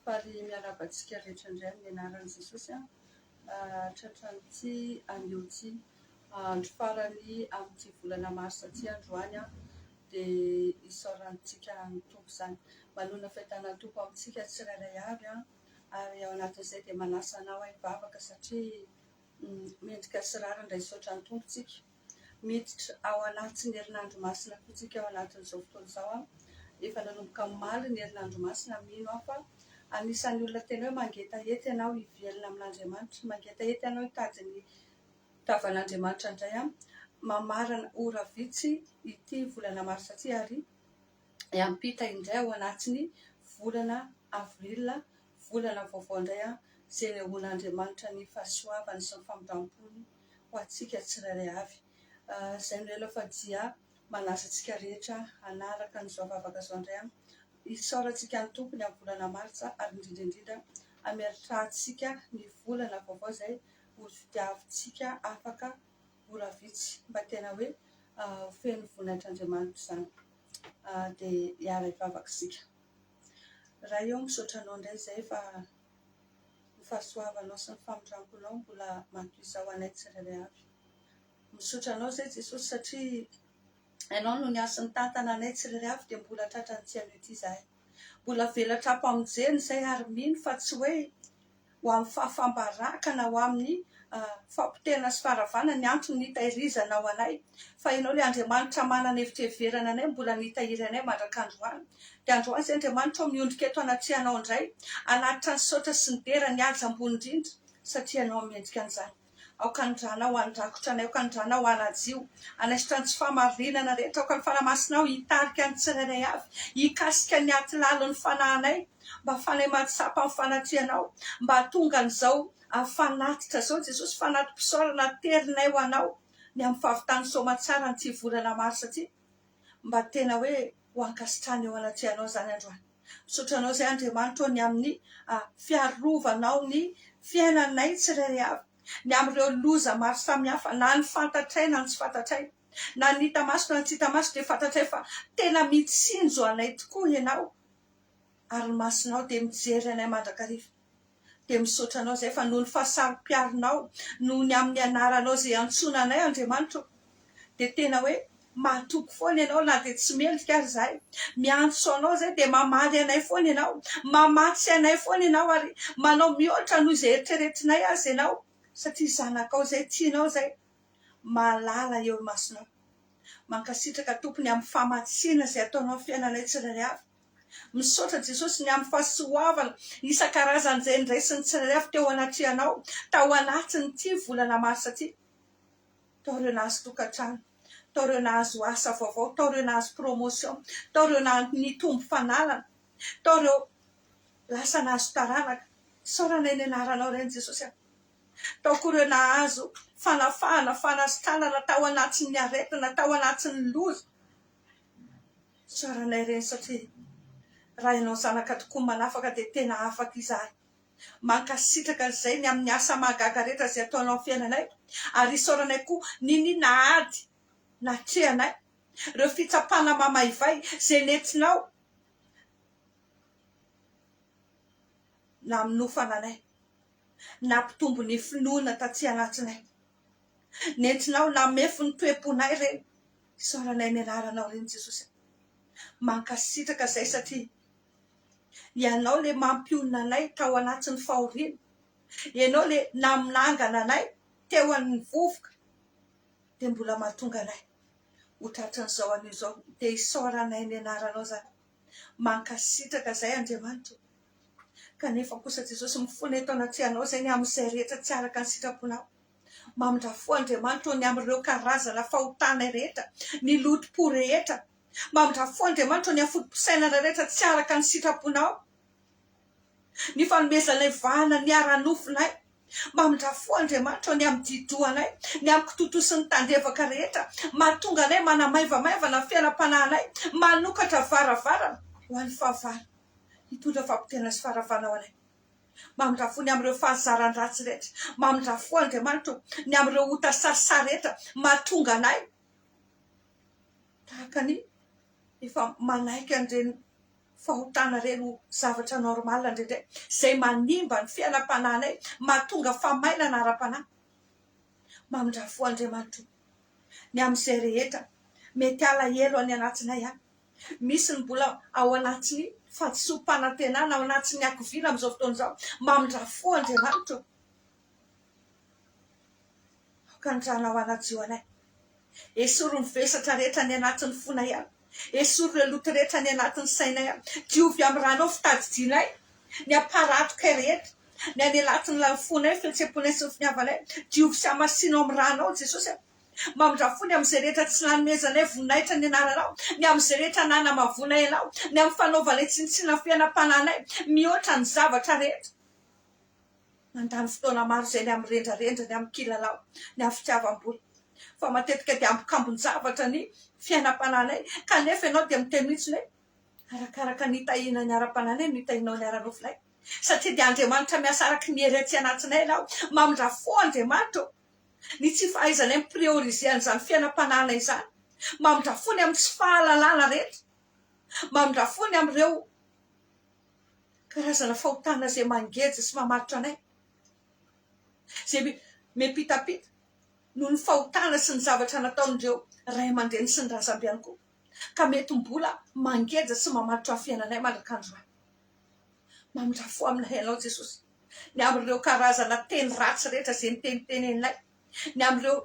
Faly miarahaba antsika rehetra indray amin'ny anaran'i Jesosy an! Tratran'ity anio ity, andro farany amin'ity volana marsa ity androany an! Dia isaorantsika ny Tompo izany. Manonona fiadanan'ny Tompo amintsika tsirairay avy an! ary ao anatin'izay dia manasa anao hivavaka satria mendrika sy rariny raisoatra ny Tompo tsika. Miditra ao anatin'ny herinandro masina koa tsika ao anatin'izao fotoana izao an. Efa nanomboka omaly ny herinandro masina mino aho fa anisan'ny olona tena hoe mangetaheta ianao hivelona amin'Andriamanitra, mangetaheta ianao hitady ny tavan'Andriamanitra indray an. Mamarana ora vitsy ity volana marsa ity ary hiampita indray ao anatin'ny volana avril, volana vaovao indray izay anehoan'Andriamanitra ny fahasoavany sy ny famindram-pony ho antsika tsirairay avy. Izay no ela fa dia manaza antsika rehetra hanaraka an'izao vavaka izao indray. Isaorantsika ny Tompo ny amin'ny volana martsa ary indrindra indrindra hameritrantsika ny volana vaovao izay ho tadiavintsika afaka. ora vitsy mba tena hoe ho feno voninahitr'Andriamanitra izany dia hiara hivavaka isika. Ray ô misaotra anao indray izay fa ny fahasoavanao sy ny famindramponao mbola matoiza ho anay tsirairay avy. Misaotra anao izay Jesosy satria ianao no niasy nitantana anay tsirairay avy dia mbola tratran'ity anio ity izahay. Mbola avela tra-pamonjena izay ary mino fa tsy hoe ho amin'ny fahafam-baraka na ho amin'ny fahapotehana sy faharavana ny antony nitahirizana ao anay fa Ianao ilay Andriamanitra manana evitrieverana anay mbola nitahiry anay mandrak'androany. Dia androany izay Andriamanitra ô miondrika eto anatrehanao indray hanatitra ny saotra sy ny dera ny haja ambony indrindra satria Ianao no mendrika an'izany. Aoka ny Ranao handrakotra anay, aoka ny Ranao hanajio, hanaisotra ny tsy fahamarinana rehetra, aoka ny Fanahy Masinao hitarika ny tsirairay avy hikasika ny atilalin'ny fanahinay, mba hahafahanay mahatsapa ny fanatrehanao, mba hahatonga an'izao fanatitra izao Jesosy, fanati-pisaorana aterinay ho Anao ny amin'ny fahavitan'ny soamatsaran'ity volana marsa ity, mba tena hoe ho ankasitrahana eo anatrehanao izany androany. Misaotra anao izay Andriamanitra ô ny amin'ny fiarovanao ny fiainanay tsirairay avy ny amin'ireo loza maro samihafa na ny fantatray na ny tsy fantatray na ny hita maso na ny tsy hita maso dia fantatray fa tena mitsinjo anay tokoa ianao ary ny masonao dia mijery anay mandrakariva. dia misaotra anao izay fa noho ny fahasaropiarinao noho ny amin'ny anaranao izay iantsoana anay Andriamanitra ô dia tena hoe mahatoky foana ianao na dia tsy mendrika ary izahay miantso anao izay dia mamaly anay foana ianao mamatsy anay foana ianao ary manao mihoatra noho izay eritreretinay aza ianao satria zanakao izay tianao izay mahalala eo imasonao mankasitraka tompony amin'ny famatsiana izay ataonao amin'ny fiainanay tsirairay avy Misaotra Jesosy ny amin'ny fahasoavana isan-karazany izay niraisin'ny tsirairay avy teo anatrehanao tao anatin'ity volana marsa ity. Tao ireo nahazo tokantrano, tao ireo nahazo asa vaovao, tao ireo nahazo promotion, tao ireo naha nitombo fananana, tao ireo lasa nahazo taranaka. Isaorana eny anaranao ireny Jesosy a. Tao koa ireo nahazo fanafahana, fanasitranana tao anatin'ny aretina, tao anatin'ny loza. Tsara anay ireny satria raha ianao zanaka tokoa manafaka dia tena afaka izahay. Mankasitraka izay ny amin'ny asa mahagaga rehetra izay ataonao amin'ny fiainanay ary isaoranay koa niniana ady natrehanay, ireo fitsapana mamaivay izay nentinao naminofana anay, nampitombo ny finoana taty anatinay. Nentinao ho lamefy ny toe-ponay ireny. Isaoranay ny anaranao ireny Jesosy a. Mankasitraka izay satria Ianao ilay mampionona anay tao anatin'ny fahoriana. Ianao ilay naminangana anay teo amin'ny vovoka dia mbola mahatonga anay ho tratran'izao anio izao. Dia isaoranay ny anaranao izany. Mankasitraka izay Andriamanitra o! Kanefa kosa Jesosy mifona eto anatrehanao izay ny amin'izay rehetra tsy araka ny sitraponao. Mamindrà fo Andriamanitra o ny amin'ireo karazana fahotana rehetra, ny loto-po rehetra. Mamindrà fo Andriamanitra o ny afotom-pisainana rehetra tsy araka ny sitraponao. Ny fanomezanay vahana ny ara-nofonay. Mamindrà fo Andriamanitra ny amin'ny dididohanay, ny amin'ny kitotosin'ny tandrevaka rehetra, mahatonga anay manamaivamaivana ny fiainam-panahinay, manokatra varavarana ho an'ny fahavalo, hitondra fahapotehanana sy faharavana ho anay. Mamindrà fo ny amin'ireo fahazaran-dratsy rehetra. Mamindrà fo Andriamanitra o, ny amin'ireo ota sarisary rehetra, mahatonga anay tahaka ny efa manaiky an'ireny fahotana ireny ho zavatra normal indraindray izay manimba ny fiainam-panahinay, mahatonga famainana ara-panahy. Mamindrafo Andriamanitra o! ny amin'izay rehetra mety halahelo any anatinay any. Misy ny mbola ao anatin'ny fahadisoam-panantenana, ao anatin'ny hakiviana amin'izao fotoana izao. Mamindrafo Andriamanitra o! Hakanjana ho hanadio anay. Esory ny vesatra rehetra any anatin'ny fonay any. Esory ireo loto rehetra any anatin'ny sainay any. Diovy amin'ny ranao fitadidianay ny hamparatokay rehetra, ny any anatin'ny lalafonay, fihetseham-ponay sy ny finiavanay. Diovy sy hamasino amin'ny ranao Jesosy a. Mamindrà fo ny amin'izay rehetra tsy nanomezanay voninahitra ny anaranao, ny amin'izay rehetra nanamavonay anao, ny amin'ny fanaovanay tsinontsinona ny fiainam-panahinay mihoatra ny zavatra rehetra. Mandany fotoana maro izay ny amin'ny rendrarendra, ny amin'ny kilalao, ny amin'ny fitiavam-bola. Fa matetika dia ambokambon-javatra ny fiainam-panahinay, kanefa ianao dia miteny mihitsiny hoe, Arakaraka ny hitahiana ny ara-panahinay no hitahianao ny ara-nofonay. Satria dia Andriamanitra miasa araka ny hery aty anatinay ianao. Mamindrà fo Andriamanitra ô! Ny tsy fahaizanay mi-prioriser an'izany fiainam-panahinay izany. Mamindrà fo ny amin'ny tsy fahalalana rehetra. Mamindrà fo ny amin'ireo. Karazana fahotana izay mangeja sy mamaritra anay, izay miampitampita noho ny fahotana sy ny zavatra nataon'ireo ray aman-dreny sy ny razambe ihany koa, ka mety mbola mangeja sy mamaritra ny fiainanay mandrak'andro any. Mamindrafo aminay ianao Jesosy, ny amin'ireo karazana teny ratsy rehetra izay noteniteneninay. ny amin'ireo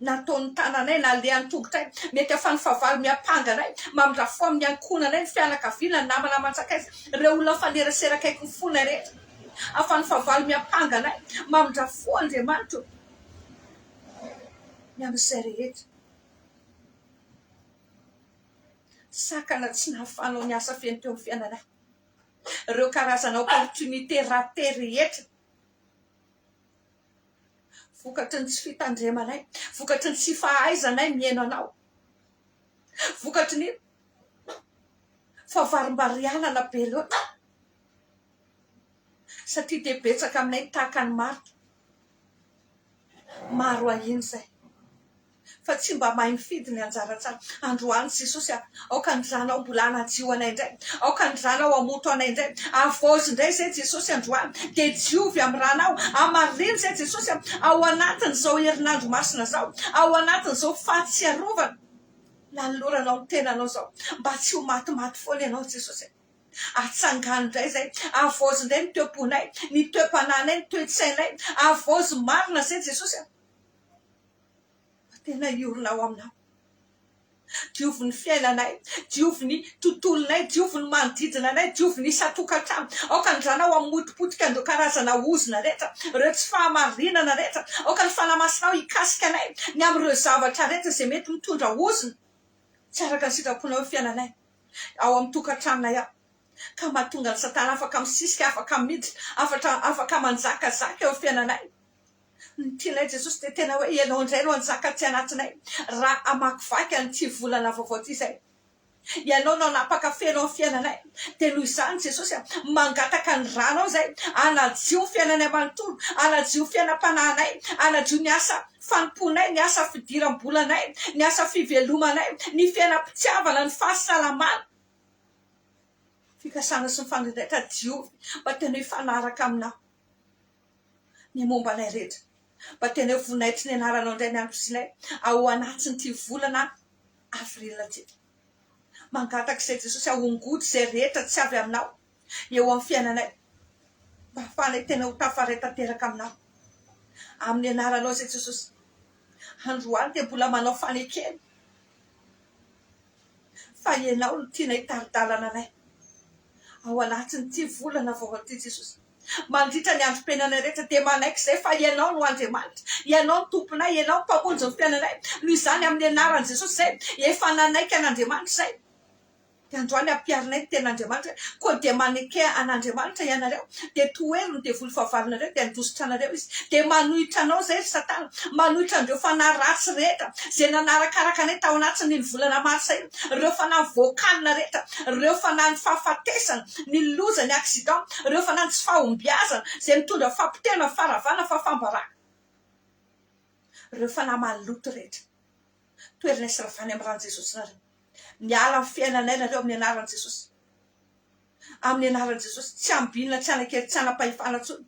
nataon'ny tananay, nalehan'ny tongotray, mety ahafahan'ny fahavalo miampanga anay, mamindrafo amin'ny ankohonanay, ny fianakaviana, ny namana aman-tsakaiza, ireo olona mifanerasera akaiky ny fonay rehetra, ahafahan'ny fahavalo miampanga anay, mamindrafo Andriamanitra ô, ny amin'izay rehetra sakana tsy nahafahanao niasa feno teo amin'ny fiainanay, ireo karazana opportunité ratée rehetra, Vokatry ny tsy fitandremanay, vokatry ny tsy fahaizanay mihaino anao, vokatry ny fahavarimbarianana be loatra, satria dia betsaka aminay ny tahaka an'i Marta. Maro ahiana izay. fa tsy mba mahay mifidy ny anjara tsara. Androany Jesosy a! Aoka ny Ranao mbola hanadio anay indray, aoka ny Ranao hamoto anay indray. Havaozy indray izay Jesosy androany, dia diovy amin'ny Ranao, hamarino izay Jesosy a! Ao anatin'izao herinandro masina izao, ao anatin'izao fahatsiarovana nanoloranao ny tenanao izao, mba tsy ho matimaty foana Ianao Jesosy a! Atsangano indray izay, havaozy indray ny toe-ponay, ny toe-panahinay, ny toe-tsainay, havaozy marina izay Jesosy a! fa tena hiorina ao aminao. Diovy ny fiainanay, diovy ny tontolonay, diovy ny manodidina anay, diovy ny isan-tokantrano. Aoka ny Zanao hamotipotika an'ireo karazana ozona rehetra, ireo tsy fahamarinana rehetra. Aoka ny Fanahy Masinao hikasika anay ny amin'ireo zavatra rehetra izay mety mitondra ozona tsy araka ny sitraponao eo fiainanay, ao amin'ny tokantranonay ao, ka mahatonga an'i Satana afaka misisika, afaka miditra, afaka manjakazaka eo fiainanay. Ny tianay Jesosy dia tena hoe ianao indray no hanjaka aty anatinay raha hamakivaky an'ity volana vaovao ity izay. Ianao no hanapaka feno amin'ny fiainanay. Dia noho izany Jesosy a, mangataka ny ranao izay hanadio ny fiainanay manontolo, hanadio ny fiainam-panahinay, hanadio ny asa fanompoanay, ny asa fidiram-bolanay, ny asa fivelomanay, ny fiainam-pitiavana, ny fahasalamana, fikasana sy ny fandrindraitra, diovy mba tena hifanaraka aminao. ny momba anay rehetra. Mba teneno voninahitriny ianaranao indray ny andro sy ilay ao anatin'ity volana avril ity. Mangataka izay Jesosy ahongoty izay rehetra tsy avy aminao eo amin'ny fiainanay mba hahafahanay tena ho tafaray tanteraka aminao. Amin'ny anaranao izay Jesosy. Androany dia mbola manao fanekena fa ianao no tianay hitari-dalana anay ao anatin'ity volana vaovao ity Jesosy. Mandritra ny androm-piainanay rehetra dia manaiky izay fa Ianao no Andriamanitra. Ianao no Tomponay, Ianao no Mpamonjy ny fiainanay. Noho izany, amin'ny anaran'i Jesosy izay efa nanaiky an'Andriamanitra izay, dia androany ampiharinay ny tenin'Andriamanitra hoe, Koa dia maneke an'Andriamanitra ianareo, dia tohero ny devoly fahavalonareo, dia handositra anareo izy. Dia manohitra anao izay, ry Satana, manohitra an'ireo fanahy ratsy rehetra izay nanarakaraka anay tao anatin'iny volana marsa iny, ireo fanahy voakalina rehetra, ireo fanahin'ny fahafatesana, ny loza, ny accident, ireo fanany tsy fahombiazana izay mitondra fahapotehana, faharavana, fahafambarana, ireo fanahy maloto rehetra. Toerina hisy ravana amin'ny ran'i Jesosy nareo. Miala amin'ny fiainanay nareo amin'ny anaran'i Jesosy. Amin'ny anaran'i Jesosy, tsy ambinina, tsy anakely, tsy anapahefana intsony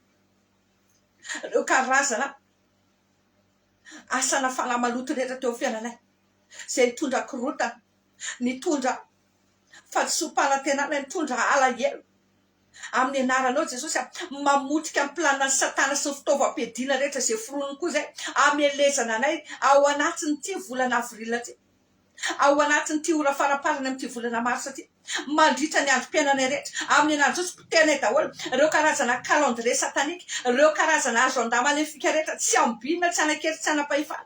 ireo karazana asana fanahy maloto rehetra teo amin'ny fiainanay, izay nitondra korotana, nitondra fadisoam-panantenana, nitondra alahelo amin'ny anaranao i Jesosy a! Mamotika ny planinan'i Satana sy ny fitaovam-piadiana rehetra izay foroniny koa izay hamelezana anay ao anatin'ity volana avril ity, ao anatin'ity ora faraparany amin'ity volana marsa ity, mandritra ny androm-piainanay rehetra, amin'ny anaran'i Jesosy, potehinay daholo ireo karazana calendrier satanique, ireo karazana agenda maléfique rehetra, tsy ambinina, tsy hanan-kery, tsy hanam-pahefana.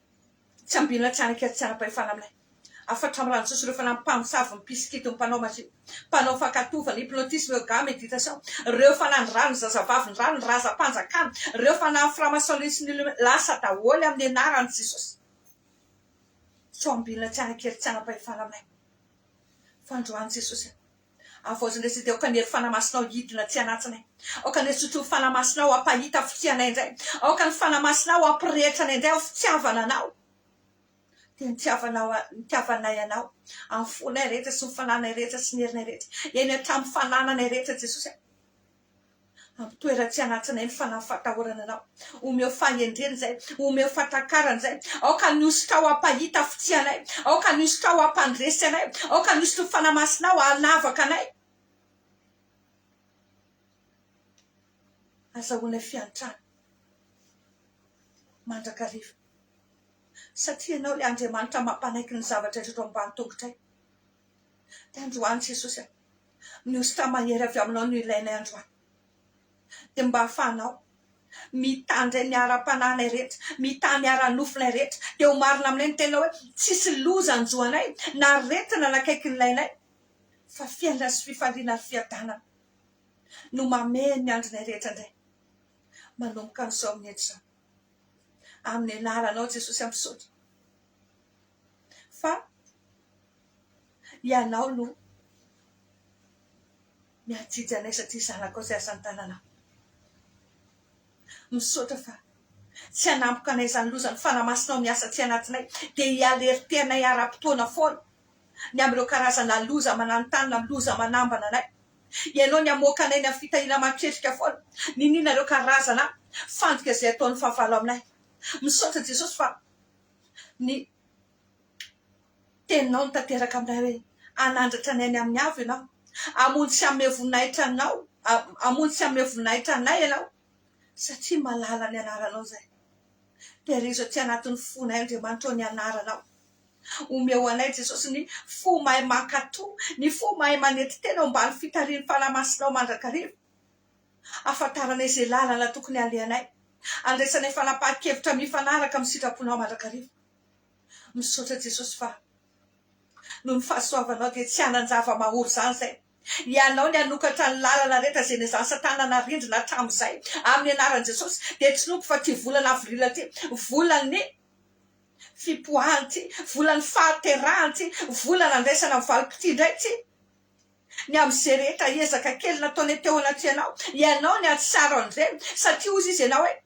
Tsy ambinina hatrany akia tsaram-pahefana milay. Hafatra amin'ny ranotsosirofana ny mpamosavy, ny mpisikidy, ny mpanao mazy, ny mpanao fankatoavana, hypnotisme, yoga, meditasao, ireo fanahin'ny rà, ny zazavavin'ny rà, ny razam-panjakana, ireo fanahin'ny franc-maçonnerie sy ny illuminati, lasa daholo amin'ny anaran'i Jesosy. Tsy ho ambinina hatrany akia ry tsaram-pahefana milay. Fandroan'i Jesosy. Havaozina re Siteny Aoka ny hery fanamasinao hidina atsy anatinay Aoka ny herin-tsotr'io fanamasinao hampahita hafikia anay indray Aoka ny fanamasinao hampirehitra anay indray ho fitiavana anao Dia nitiavanao nitiavanay anao Amin'ny fonay rehetra sy ny fananay rehetra sy ny herinay rehetra Eny hatramin'ny fanananay rehetra Jesosy a Ampitoera tsy hanatsinay ny fanahy fatahorana Anao. Omeo fahendrena izay. Omeo fatakarana izay. Aoka ny hosotra ao hampahita fitsianay. Aoka ny hosotra ao hampandresy anay. Aoka ny hosotry ny Fanahy Masinao hanavaka anay. Azahoanay fiantrana mandrakariva. Satria Ianao ilay Andriamanitra mampanaiky ny zavatra rehetra eto ambany tongotray. Dia androany Jesosy a! Mihosotra mahery avy aminao no ilainay androany. Dia mba ahafahanao mitandre ny ara-panahinay rehetra, mitaha ny ara-nofonay rehetra. Dia ho marina aminay ny teninao hoe, Tsisy loza hanjo anay, na aretina nakaiky ny lainay, fa fiainana sy fifaliana ary fiadanana no mamehy ny andronay rehetra indray, manomboka amin'izao minitra izao. Amin'ny anaranao Jesosy aho misaotra. fa ianao no miha-jijy anay satria zanakao izay asa tananao. Misaotra fa tsy hanampoka anay izany loza ny fanamasinao ny asa tsy anatinay dia hi-alerter anay ara-potoana foana ny amin'ireo karazana loza mananontanona amin'ny loza manambana anay. Ianao ny hamoaka anay ny amin'ny fitahiana aman-ketrika foana niniana ireo karazana fandrika izay ataon'ny fahavalo aminay. Misaotra Jesosy fa ny teninao tanteraka aminay hoe hanandratra ny ainy amin'ny avo ianao, hamonjy sy hanome voninahitra anao, hamonjy sy hanome voninahitra anay ianao satria malala ny anaranao izahay. Tehirizo aty anatin'ny fonay Andriamanitra ô ny anaranao. Omeo anay Jesosy ny fo mahay mankatò, ny fo mahay manetitena ao ambany fitarihin'ny fanahy masinao mandrakariva. Hahafantaranay izay lalana tokony halehanay. Handraisanay fanapahan-kevitra mifanaraka amin'ny sitraponao mandrakariva. Misaotra Jesosy fa noho ny fahasoavanao dia tsy hanan-java-mahory izany izay. Ianao ny hanokatra ny lalana rehetra izay nezahan'i satana narindrina hatramin'izay. Amin'ny anaran'i Jesosy dia tsinoko fa ity volana avril ity, volan'ny fipoahana ity, volan'ny fahaterahana ity, vola nandraisana ny valim-pitia indray ity. ny amin'ny izay rehetra ezaka kely nataonay teo anatrehanao, ianao ny hahatsiaro an'ireny, satria hoy izy ianao hoe,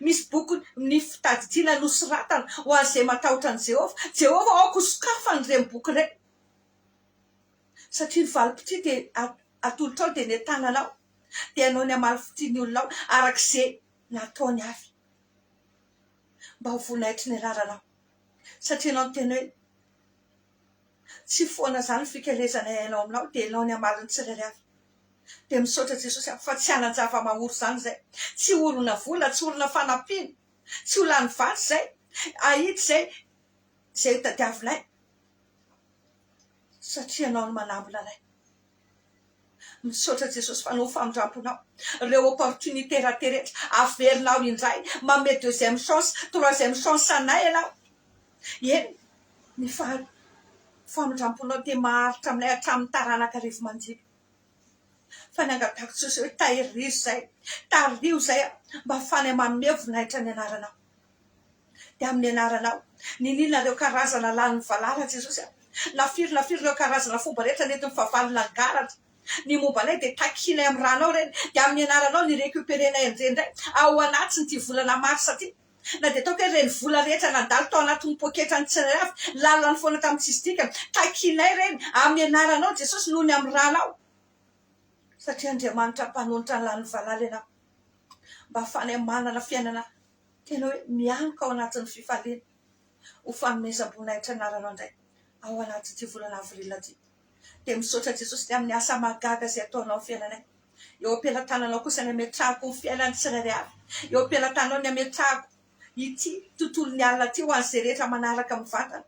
Misy bokin, ny fitadidiana nosoratana ho an'izay matahotra an'i Jehovah. Jehovah, aoka ho sokafana ireny boky ireny, satria ny valim-pitria dia atolotrao, dia ny an-tananao, dia ianao ny hamaly fitia ny olonao, araka izay nataony avy, mba ho voninahitry ny anaranao, satria ianao no tena hoe, Tsy foana zany fikelezana iainao aminao dia enao ny amaliny tsirairy avy dia misaotra jesosy aho fa tsy hanan java mahory zany izay tsy horona vola tsy horona fanampiana tsy ho lany vatsy zay ahitsy zay zay ho tadiavinay satria enao no manambina ray Misaotra Jesosy fa noho famindramponao reo opportunité raté rehetra averina aho indray manome deuxième chance troisième chance anay ianao eny ny faha famindramponao dia maharitra aminay hatramin'ny taranaka arivo mandidy fa ny angatahako Jesosy hoe tahirizay tariho izay mba ahafahanay manome voninahitra ny anaranao dia amin'ny anaranao. Niniana ireo karazana lanin'ny valala, Jesosy a. Na firy na firy ireo karazana fomba rehetra nentin'ny fahavalo nangalaratra ny momba anay, dia takianay amin'ny ranao ireny. Dia amin'ny anaranao ny recuperenay an'ireny indray ao anatin'ity volana marsa ity. Na dia ataoko hoe ireny vola rehetra nandalo tao anatin'ny poketran'ny tsirairay avy, lalany foana tamin'ny tsisy dikany. Takianay ireny amin'ny anaranao, Jesosy, noho ny amin'ny ranao. Satria Andriamanitra mpanolotra ny lanin'ny valala ianao, mba hahafahanay manana fiainana. Tena hoe mianoka ao anatin'ny fifaliana ho fanomezam-boninahitra ny lalanao indray ao anatin'ity volana avril ity. Dia misaotra Jesosy ny amin'ny asa mahagaga izay ataonao amin'ny fiainanay. Eo am-pelatananao kosa ny hametrahako ny fiainan'ny tsirairay avy. Eo am-pelatananao ny hametrahako ity tontolon'ny alina ity ho an'izay rehetra manaraka mivantana.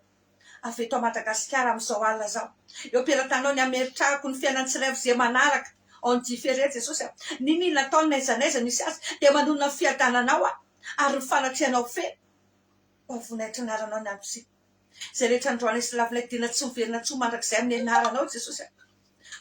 avy eto Madagasikara amin'izao alina izao. Eo am-pelatanao ny hameretrahako ny fiainan'ny tsiraiv'izay manaraka ao ny Jiferia, Jesosy a! Niniana ataony n'aiza n'aiza misy azy, dia manonona ny fiadananao aho, ary ny fanatrehanao feno ho voninahitry ny anaranao ny andro sy izay rehetra androanay sy lavinay, dia na tsy miverina intsony mandrakizay amin'ny anaranao Jesosy a!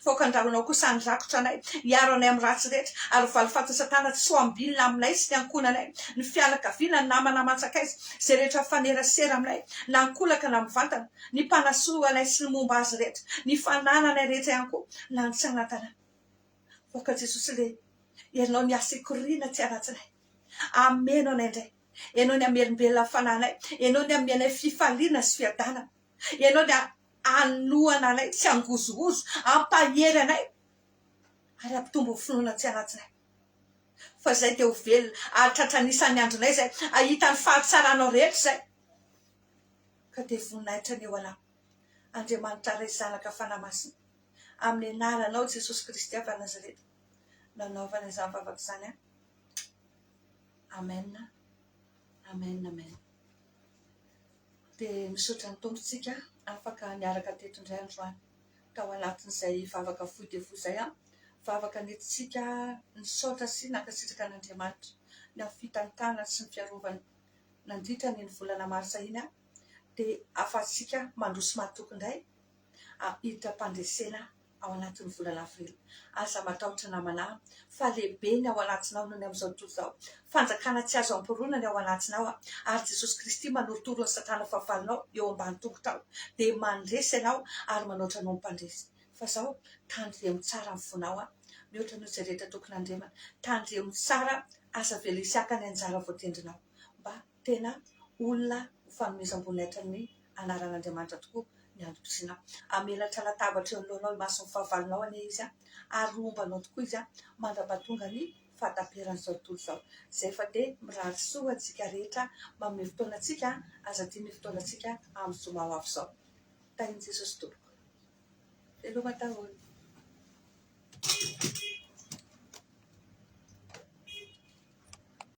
Faoka andaronao kosa ny rakotra anay, hiaro anay amin'ny ratsy rehetra, ary ho valifatin'i Satana tsy ho ambinina aminay sy ny ankohonanay, ny fianakaviana, ny namana aman-tsakaiza, izay rehetra mifanerasera aminay, na an-kolaka na mivantana, ny mpanasoa anay sy ny momba azy rehetra, ny fanananay rehetra ihany koa, na ny tsy anantanay. Faoka Jesosy le Ianao ny asa ikoriana tsy anatsinay. Ameno anay indray. Ianao ny hamelombelona ny fanahinay. Ianao ny hanome anay fifaliana sy fiadanana. Ianao ny Hanohana anay tsy hangozohozo, hampahery anay ary hampitombo ny finoana tsy hanatsinay. Fa izay dia ho velona ary tratra ny isan'ny andronay izay hahita ny fahatsaranao rehetra izay. Ka dia voninahitra ny eo Alah, Andriamanitra Ray, Zanaka, Fanahy Masina, amin'ny anaranao Jesosy Kristy avy any Nazareta nanaovana izany vavaka izany aho. Amen, Amen, Amen. Dia misaotra ny Tompontsika afaka niaraka teto indray androany tao anatin'izay vavaka fohy dia fohy izay an! vavaka nentintsika nisaotra sy nankasitraka an'Andriamanitra ny amin'ny fitantanany sy ny fiarovany nandritra ny ny volana marsa iny an! dia ahafahantsika mandroso matoky indray hiditra am-pandresena ao anatin'ny volana avrily. Aza matahotra namanà fa lehibe ny ao anatinao noho ny amin'izao tontolo izao. Fanjakana tsy azo amporona ny ao anatinao ary Jesosy Kristy manorotoro ny satana fahavalonao eo ambany tongotrao dia mandresy anao ary manoatra anao mpandresy. Fa izao tandremo tsara ny fonao mihoatra noho izay rehetra tokony handremana. Tandremo tsara aza avela hisy haka ny anjara voatendrinao mba Tena olona ho fanomezam-boninahitra ny anaran'Andriamanitra tokoa ny antom-pisianao. Hamelatra latabatra eo anoloanao imason'ny fahavalonao anie izy, ary ho ombanao tokoa izy mandra-pahatonga ny fahataperan'izao tontolo izao. Izay fa dia mirary soa antsika rehetra mamin'ny fotoana antsika, aza adino ny fotoana antsika amin'ny zoma ho avy izao. Tahin'i Jesosy Tompoko. Veloma daholo.